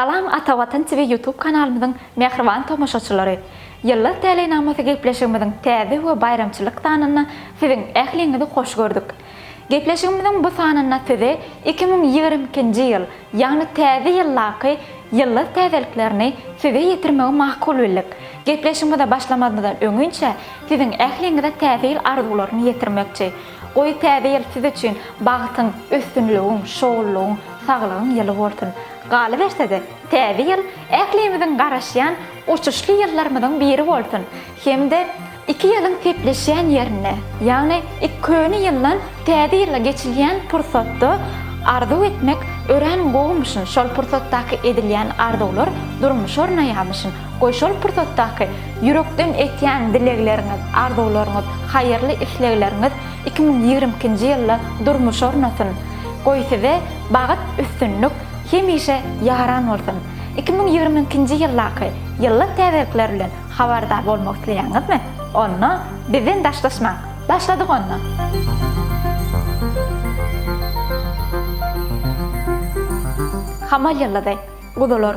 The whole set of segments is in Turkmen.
Salam Ata Watan TV YouTube kanalymyzyň mähriban tomaşaçylary! Ýyllar täleýnamasy gepleşigimiziň täze we baýramçylyk sanynda siziň ähliňizi hoş gördük. Gepleşigimiziň bu sanynda size iki müň ýigrimi ikinji ýyl, ýagny Täze ýyldaky ýyllar täzeliklerini size ýetirmegi makul bildik. Gepleşigimize başlamazymyzdan öňinçä siziň ähliňize Täze ýyl arzuwlaryny ýetirmekçi. Goý täze ýyl siz üçin bagtyň, üstünligiň, şowlulygyň, saglygyň ýyly bolsun. Galyberse-de, täze ýyl ählimiziň garaşýan uçuşly ýyllarymyzyň biri bolsun hem-de iki ýylyň sepleşýän ýerinde, ýagny ik köne ýyldan täze ýyla geçilýän pursatda arzuw etmek örän gowumyşyn, şol pursatdaky edilýän arzuwlar durmuşa ornaýamyşyn. Goý şol pursatdaky ýürekden etýän dilegleriňiz, arzuwlaryňyz, haýyrly islegleriňiz iki müň ýigrimi ikinji ýylda durmuşa ornasyn! Goý size bagt, üstünlik hemişe ýaran bolsun! Iki müň ýigrimi ikinji ýyldaky ýylla täzelikler bilen habardar bolmak isleýäňizmi? Onda bizden daşlaşmaň! Başladyk onda! Hamal ýyldyzy. Guzular.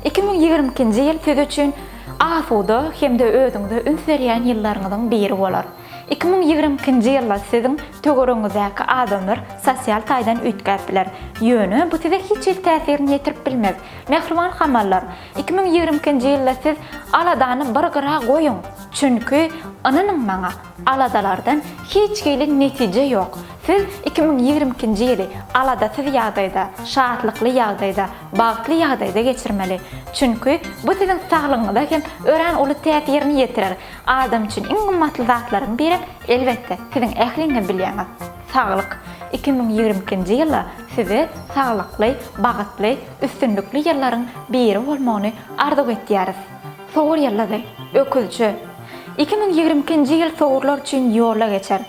Iki müň ýigrimi ikinji ýyl siz üçin asuda hem-de özüňize üns berýän ýyllaryňyzyň biri bolar. Iki müň ýigrimi ikinji ýylda siziň töweregiňizdäki adamlar sosial taýdan üýtgäp biler. Ýöne bu size hiç hili täsirini ýetirip bilmez. Mähriban hamallar, iki müň ýigrimi ikinji ýylda siz aladany bir gyra goýuň. Çünki, ynanyň maňa, Aladalardan hiç hili netije ýok. Siz iki müň ýigrimi ikinji ýyly aladasyz ýagdaýda, şatlykly ýagdaýda, bagtly ýagdaýda geçirmeli. Çünki bu siziň saglygyňyza hem örän uly täsirini ýetirer. Adam üçin iň gymmatly zatlaryň birem, elbetde, siziň ähliňiz bilýäňiz, saglyk. Iki müň ýigrimi ikinji ýylda size saglykly, bagtly, üstünlikli ýyllaryň biri bolmagyny arzuw etýäris. Sowur ýyldyzy, öküzçi, iki müň ýigrimi ikinji ýyl sowurlar üçin ýola geçer.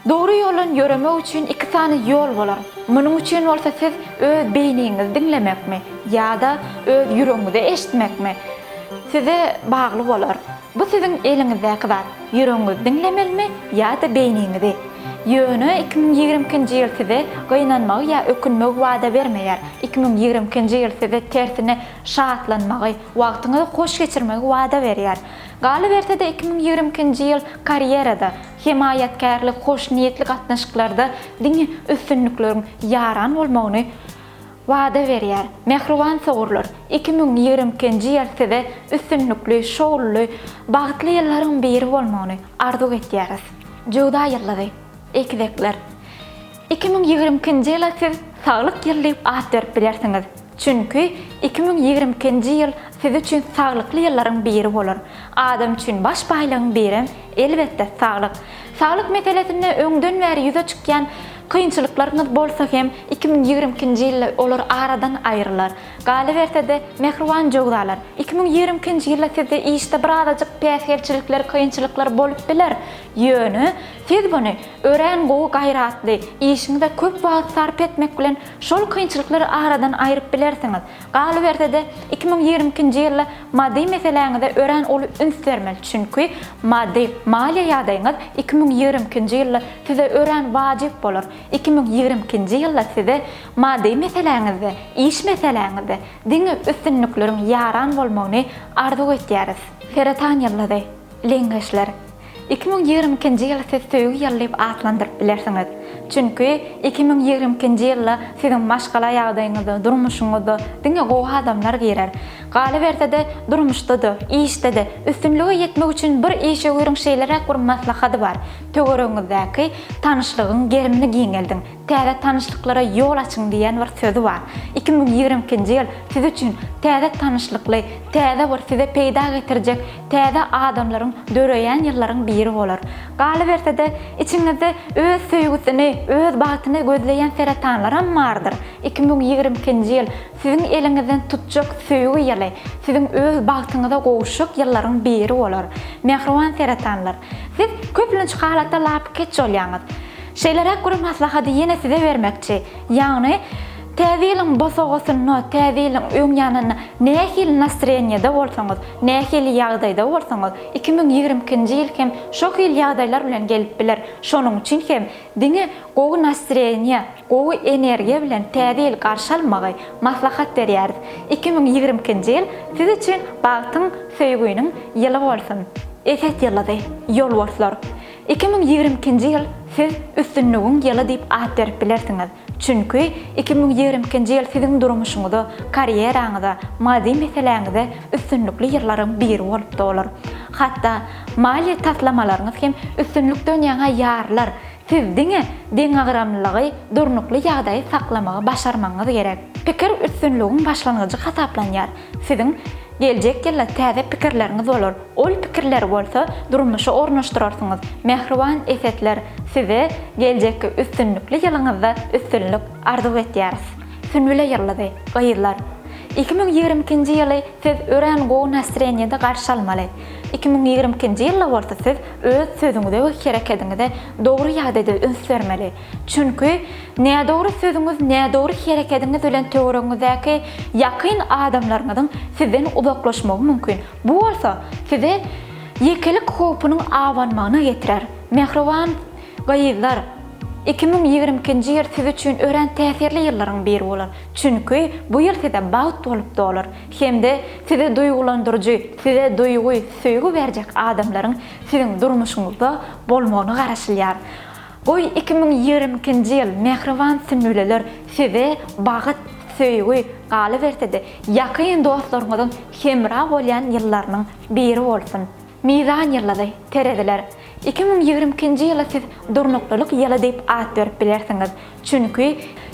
Dogry ýoldan ýöremek üçin iki sany ýol bolar. Munuň üçin bolsa siz öz beýniňizi diňlemekmi ýa-da öz ýüregiňizi eşitmekmi, size bagly bolar. Bu siziň eliňizdäki zat, ýüregiňizi diňlemelimi ýa-da beýniňizi. Ýöne iki müň ýigrimi ikinji ýyl size gynanmagy ýa ökünmegi wada bermeýär. Iki müň ýigrimi ikinji ýyl size tersine şatlanmagy, wagtyňyzy hoş geçirmegi wada berýär. Galyberse-de iki müň ýigrimi ikinji ýyl karýerada, hemaýatkärlik, hoşniýetli gatnaşyklarda diňe üstünlikleriň ýaran bolmagyny wada berýär. Mähriban sogurlar, iki müň ýigrimi ikinji ýyl size üstünlikli, şowluly, bagtly ýyllaryň biri bolmagyny arzuw etýäris. Jöwza ýyldyzy, egizekler, iki müň ýigrimi ikinji ýyla siz Saglyk ýyly diýip at berip bilersiňiz. Çünki iki müň ýigrimi ikinji ýyl siz üçin saglykly ýyllaryň biri bolar. Adam üçin baş baýlygyň birem, elbetde, saglyk. Saglyk meselesinde öňden bäri ýüze çykýan kynçylyklaryňyz bolsa hem, iki müň ýigrimi ikinji ýylda olar aradan aýrylar. Galyberse-de, mähriban jöwzalar, iki müň ýigrimi ikinji ýylda sizde işde bir azajyk päsgelçilikler, kynçylyklar bolup biler, ýöne siz muny örän gowy gaýratly, işiňize köp wagt sarp etmek bilen Şol kynçylyklary aradan aýryp bilersiňiz. Galyberse-de, iki müň ýigrimi ikinji ýylda maddy meseläňize örän uly üns bermeli, çünki maddy, maliýe ýagdaýyňyz iki müň ýigrimi ikinji ýylda size örän wajyp bolar. Iki müň ýigrimi ikinji ýylda size maddy meseläňizde, iş meseläňizde diňe üstünlikleriň ýaran bolmagyny arzuw etýäris. Seratan ýyldyzy. Leňňeçler. Iki müň ýigrimi ikinji ýyly siz söýgi ýyly diýip atlandyryp bilersiňiz. Çünki iki müň ýigrimi ikinji ýylda siziň maşgala ýagdaýyňyza, durmuşyňyza diňe gowy adamlar girer. Galyberse-de, durmuşda-da, işde-de üstünlige ýetmek üçin bir işewüriň şeýleräk bir maslahady bar, töweregiňizdäki tanyşlygyň gerimini giňeldiň, täze tanyşlyklara ýol açyň diýen bir sözi bar. Iki müň ýigrimi ikinji ýyl siz üçin täze tanyşlykly, täze bir size peýda getirjek Täze adamlaryň döreýän ýyllaryň biri bolar. Galyberse-de, içiňizde öz söýgüsini, öz bagtyny gözleýän seretanlaram bardyr. Iki müň ýigrimi ikinji ýyl siziň eliňizden tutjak söýgi ýyly, siziň öz bagtyňyza gowuşjak ýyllaryň biri bolar. Mähriban seretanlar! Siz köplenç halatda lapykeç bolýaňyz. Şeýleräk bir maslahaty ýene size bermekçi. Ýagny, Täze ýylyň bosagasynda, täze ýylyň öň ýanynda nähili nastroýeniýede bolsaňyz, nähili ýagdaýda bolsaňyz, iki müň ýigrimi ikinji ýyl hem şo hili ýagdaýlar bilen gelip biler. Şonuň üçin hem diňe gowy nastroýeniýe, gowy energiýa bilen täze ýyly garşy almagy maslahat berýäris. Iki müň ýigrimi ikinji ýyl siz üçin bagtyň, söýgüniň ýyly bolsun! Eset ýyldyzy, Ýolborslar, iki müň ýigrimi ikinji ýyl siz üstünligiň ýyly diýip at berip bilersiňiz. Çünki iki müň ýigrimi ikinji ýyl siziň durmuşyňyza, karýeraňyza, maddy meseläňize üstünlikli ýyllaryň biri bolup dolar. Hatda maliýe taslamalaryňyz hem üstünlikden ýaňa ýarylar, siz diňe deňagramlylygy, durnukly ýagdaýy saklamagy başarmagyňyz gerek. Pikir üstünligiň başlangyjy hasaplanýar. Siziň geljek ýylda täze pikirleriňiz bolar. Ol pikirleri bolsa durmuşa ornaşdyrarsyňyz. Mähriban esetler, size geljekki üstünlikli ýylyňyzda üstünlik arzuw etýäris. Sünbüle ýyldyzy, gyzlar! Iki müň ýigrimi ikinji ýyly siz örän gowy nastreniýede garşy almaly. Iki müň ýigrimi ikinji ýylda bolsa siz öz sözüňize we herekediňize dogry ýagdaýda üns bermeli. Çünki nädogry sözüňiz nädogry herekediňiz bilen töweregiňizdäki ýakyn adamlaryňyzyň sizden uzaklaşmagy mümkin. Bu bolsa size ýekelik howpunyň abanmagyna getirer. Mähriban gyzlar, iki müň ýigrimi ikinji ýyl siz üçin örän täsirli ýyllaryň biri bolar, çünki bu ýyl size bagt bolup dolar hem-de sizi duýgulandyryjy, size duýgy, söýgi berjek adamlaryň siziň durmuşyňyzda bolmagyna garaşylýar. Goý iki müň ýigrimi ikinji ýyl mähriban sümüleler size bagt, söýgi, galyberse-de ýakyn dostlaryňyzyň hemra bolýan ýyllarynyň biri bolsun. Mizan ýyldyzy, Tereziler, iki müň ýigrimi ikinji ýyla siz durnuklylyk ýyly diýip at berip bilersiňiz. Çünki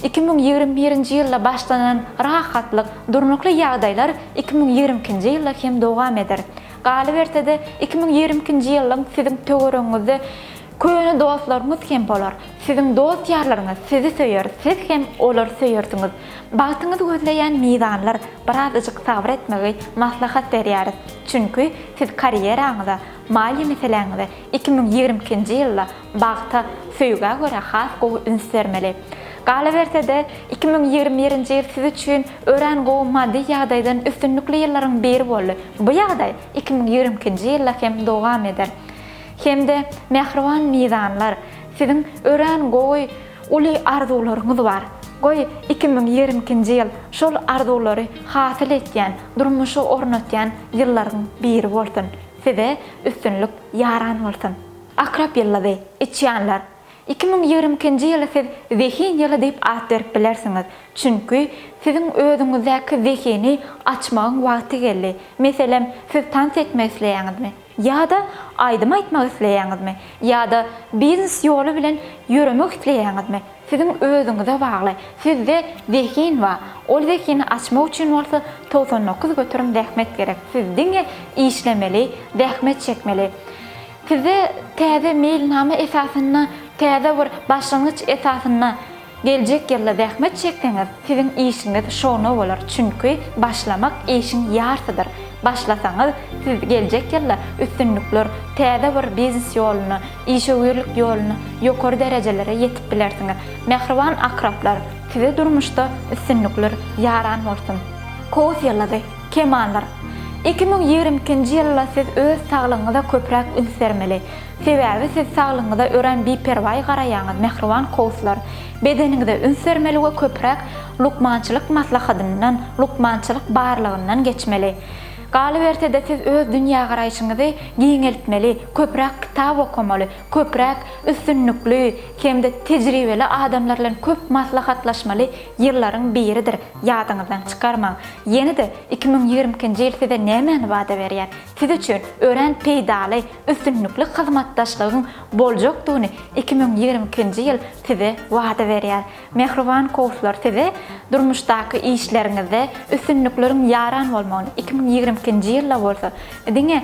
iki müň ýigrimi birinji ýylda başlanan rahatlyk, durnukly ýagdaýlar iki müň ýigrimi ikinji ýylda hem dowam eder. Galyberse-de iki müň ýigrimi ikinji ýylyň siziň töweregiňizde Köne dostlaryňyz hem bolar. Siziň dost-ýarlaryňyz sizi söýer, siz hem olary söýersiňiz. Bagtyňyzy gözleýän mizanlar, birazajyk sabyr etmegi maslahat berýäris. Çünki siz karýeraňyza, maliýe meseläňize iki müň ýigrimi ikinji ýylda bagta, söýgä görä has gowy üns bermeli. Galaberse-de, iki müň ýigrimi birinji ýyl siz üçin örän gowy maddy ýagdaýdan üstünlikli ýyllaryň biri boldy. Bu ýagdaý iki müň ýigrimi ikinji ýylda hem dowam eder. Hem-de mähriban mizanlar, siziň örän gowy uly arzuwlaryňyz bar. Goý, iki müň ýigrimi ikinji ýyl şol arzuwlary hasyl etýän, durmuşa ornatýan ýyllaryň biri bolsun. Size üstünlik ýaran bolsun! Akrep ýyldyzy, içýanlar, iki müň ýigrimi ikinji ýyly siz zehin ýyly diýip at berip bilersiňiz. Çünki, siziň özüňizdäki zehini açmagyň wagty geldi. Meselem, siz tans etmek isleýäňizmi? Ýa-da aýdym aýtmak isleýäňizmi? Ýa-da biznes ýoly bilen ýöremek isleýäňizmi? Siziň özüňize bagly. Sizde zehin bar. Ol zehini açmak üçin bolsa togsan dokuz göterim zähmet gerek. Siz diňe işlemeli, zähmet çekmeli. Sizde täze meýilnama esasynda, täze bir başlangyç esasynda. Geljek ýylda zähmet çekseňiz, siziň işiňiz şowuna bolar, çünki başlamak işiň ýarsydyr. Başlasaňyz, siz geljek ýylda üstünlikler, täze bir biznes ýoluna, işewürlik ýoluna, ýokary derejelere ýetip bilersiňiz. Mähriban akraplar, size durmuşda üstünlikler ýaran bolsun! Kowus ýyldyzy, kemanlar. Iki müň ýigrimi ikinji ýylda siz öz saglygyňyza köpräk üns bermeli. Sebäbi siz saglygyňyza örän biperwaý garaýaňyz, mähriban kowuslar. Bedeniňize üns bermeli we köpräk lukmançylyk maslahatyndan, lukmançylyk barlagyndan geçmeli. Galyberse-de, siz öz dünýägaraýşyňyzy giňeltmeli, köpräk kitap okamaly, köpräk üstünlikli hem-de tejribeli adamlar bilen köp maslahatlaşmaly ýyllaryň biridir, ýadyňyzdan çykarmaň. Ýene-de iki müň ýigrimi ikinji ýyl size nämäni wada berýär? Siz üçin örän peýdaly, üstünlikli hyzmatdaşlygyň boljakdygyny iki müň ýigrimi ikinji ýyl size wada berýär. Mähriban kowuslar size durmuşdaky işleriňizde üstünlikleriň ýaran bolmagyny, iki müň ýigrimi ikinji ýylda bolsa diňe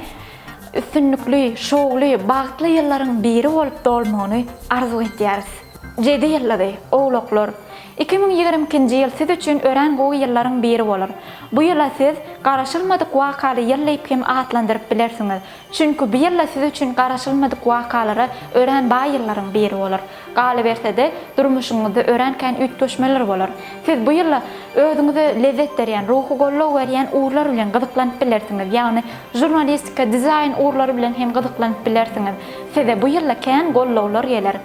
üstünlikli, şowly, bagtly ýyllaryň biri bolup dolmagyny arzuw edýäris. Jedi ýyllyzy, Owlaklar! Iki müň ýigrimi ikinji ýyl siz üçin örän gowy ýyllaryň biri bolar. Bu ýyla siz Garaşylmadyk wakaly ýyl diýip hem atlandyryp bilersiňiz. Çünki bu ýylda siz üçin garaşylmadyk wakalara örän baý ýyllaryň biri bolar. Galyberse-de, durmuşyňyzda örän kän üýtgeşmeler bolar. Siz bu ýylda özüňize lezzet berýän, ruhy goldaw berýän ugurlar bilen gyzyklanyp bilersiňiz, ýagny žurnalistika, dizaýn ugurlary bilen hem gyzyklanyp bilersiňiz. Size bu ýylda kän goldawlar geler.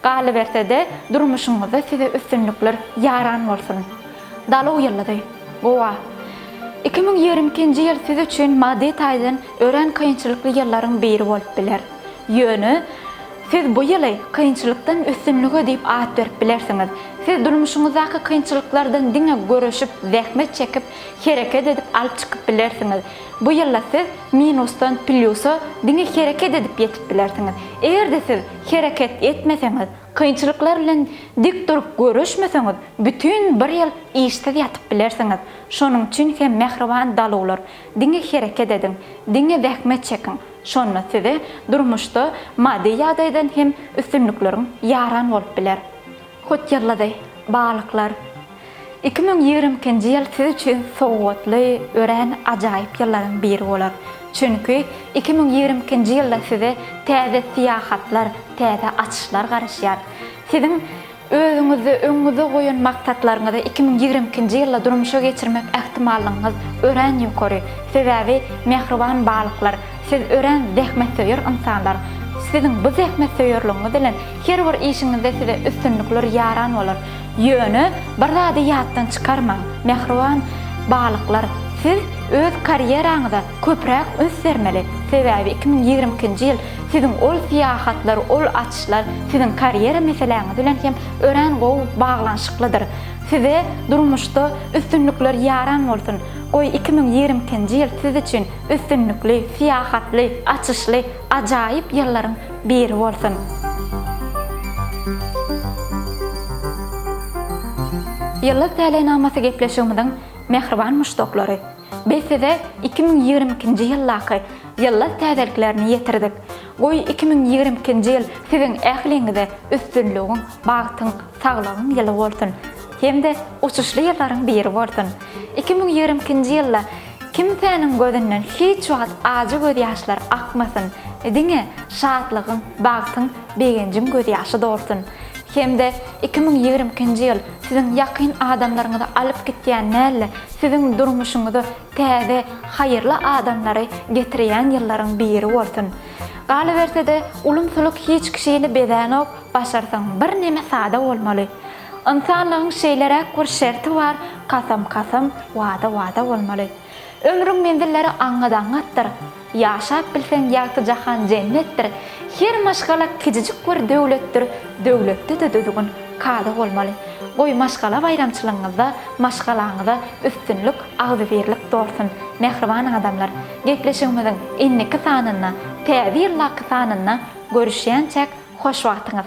Galyberse-de, durmuşyňyzda size üstünlikler ýaran bolsun! Daluw ýyldyzy. Gowa. Iki müň ýigrimi ikinji ýyl siz üçin maddy taýdan örän kynçylykly ýyllaryň biri bolup biler. Ýöne, siz bu ýyly Kynçylykdan üstünlige diýip at berip bilersiňiz. Siz durmuşyňyzdaky kynçylyklardan diňe göreşip, zähmet çekip, hereket edip alyp çykyp bilersiňiz. Bu ýylda siz minusdan plýusa diňe hereket edip ýetip bilersiňiz. Eger-de siz hereket etmeseňiz, Kynçylyklar bilen dik durup göreşmeseňiz, bütin bir ýyl işsiz ýatyp bilersiňiz. Şonuň üçin hem mähriban daluwlar, diňe hereket ediň, diňe zähmet çekiň, şonda size durmuşda maddy ýagdaýdan hem üstünlikleriň ýaran bolup biler. Hut ýyldyzy, balyklar! Iki müň ýigrimi ikinji ýyl siz üçin sowgatly, örän ajaýyp ýyllaryň biri bolar. Çünki iki müň ýigrimi ikinji ýylda size täze syýahatlar, täze açyşlar garaşýar. Siziň özüňizde öňüňizde goýan maksatlaryňyzy iki müň ýigrimi ikinji ýylda durmuşa geçirmek ähtimallygyňyz örän ýokary. Sebäbi, mähriban balyklar, siz örän zähmetsöýer ynsanlar. Siziň bu zähmetsöýerligiňiz bilen her bir işiňizde size üstünlikler ýaran bolar. Ýöne bir zady ýatdan çykarmaň, mähriban balyklar, siz öz karýeraňyza köpräk üns bermeli, sebäbi iki müň ýigrimi ikinji ýyl siziň ol syýahatlar, ol açyşlar siziň karýera meseläňiz bilen hem örän gowy baglanyşyklydyr. Size durmuşda üstünlikler ýaran bolsun! Goý, iki müň ýigrimi ikinji ýyl siz üçin üstünlikli, syýahatly, açyşly, Ajaýyp ýyllaryň biri bolsun. Ýyllyk täleýnamasy gepleşigimiziň mähriban muşdaklary! Biz size iki müň ýigrimi ikinji ýyldaky ýyllyk täzeliklerini ýetirdik. Goý iki müň ýigrimi ikinji ýyl siziň ähliňize üstünligiň, bagtyň, saglygyň ýyly bolsun! Hem-de uçuşly ýyllaryň biri bolsun! Iki müň ýigrimi ikinji ýylda Kimsäniň gözünden hiç wagt ajy gözýaşlar akmasyn, diňe şatlygyň, bagtyň, begenjiň gözýaşy dolsun. Hem-de iki müň ýigrimi ikinji ýyl siziň ýakyn adamlaryňyzy alyp gitýän däl-de, siziň durmuşyňyza täze, haýyrly adamlary getirýän ýyllaryň biri bolsun. Galyberse-de, ulumsylyk hiç kişini bezänok, başarsaň birneme sada bolmaly. Ynsanlygyň şeýleräk bir şerti bar, kasam kasam, wada wada bolmaly. Ömrüň menzilleri aňňat aňňatdyr. Ýaşap bilseň ýagty jahan jennetdir. Her maşgala kijijik bir döwletdir, döwletde-de düzgün, kada bolmaly. Goý maşgala baýramçylygyňyzda maşgalaňyza üstünlik, agzybirlik dolsun, mähriban adamlar! Gepleşigimiziň indiki sanynda, Täze ýyldaky sanynda görüşýänçäk hoş wagtyňyz!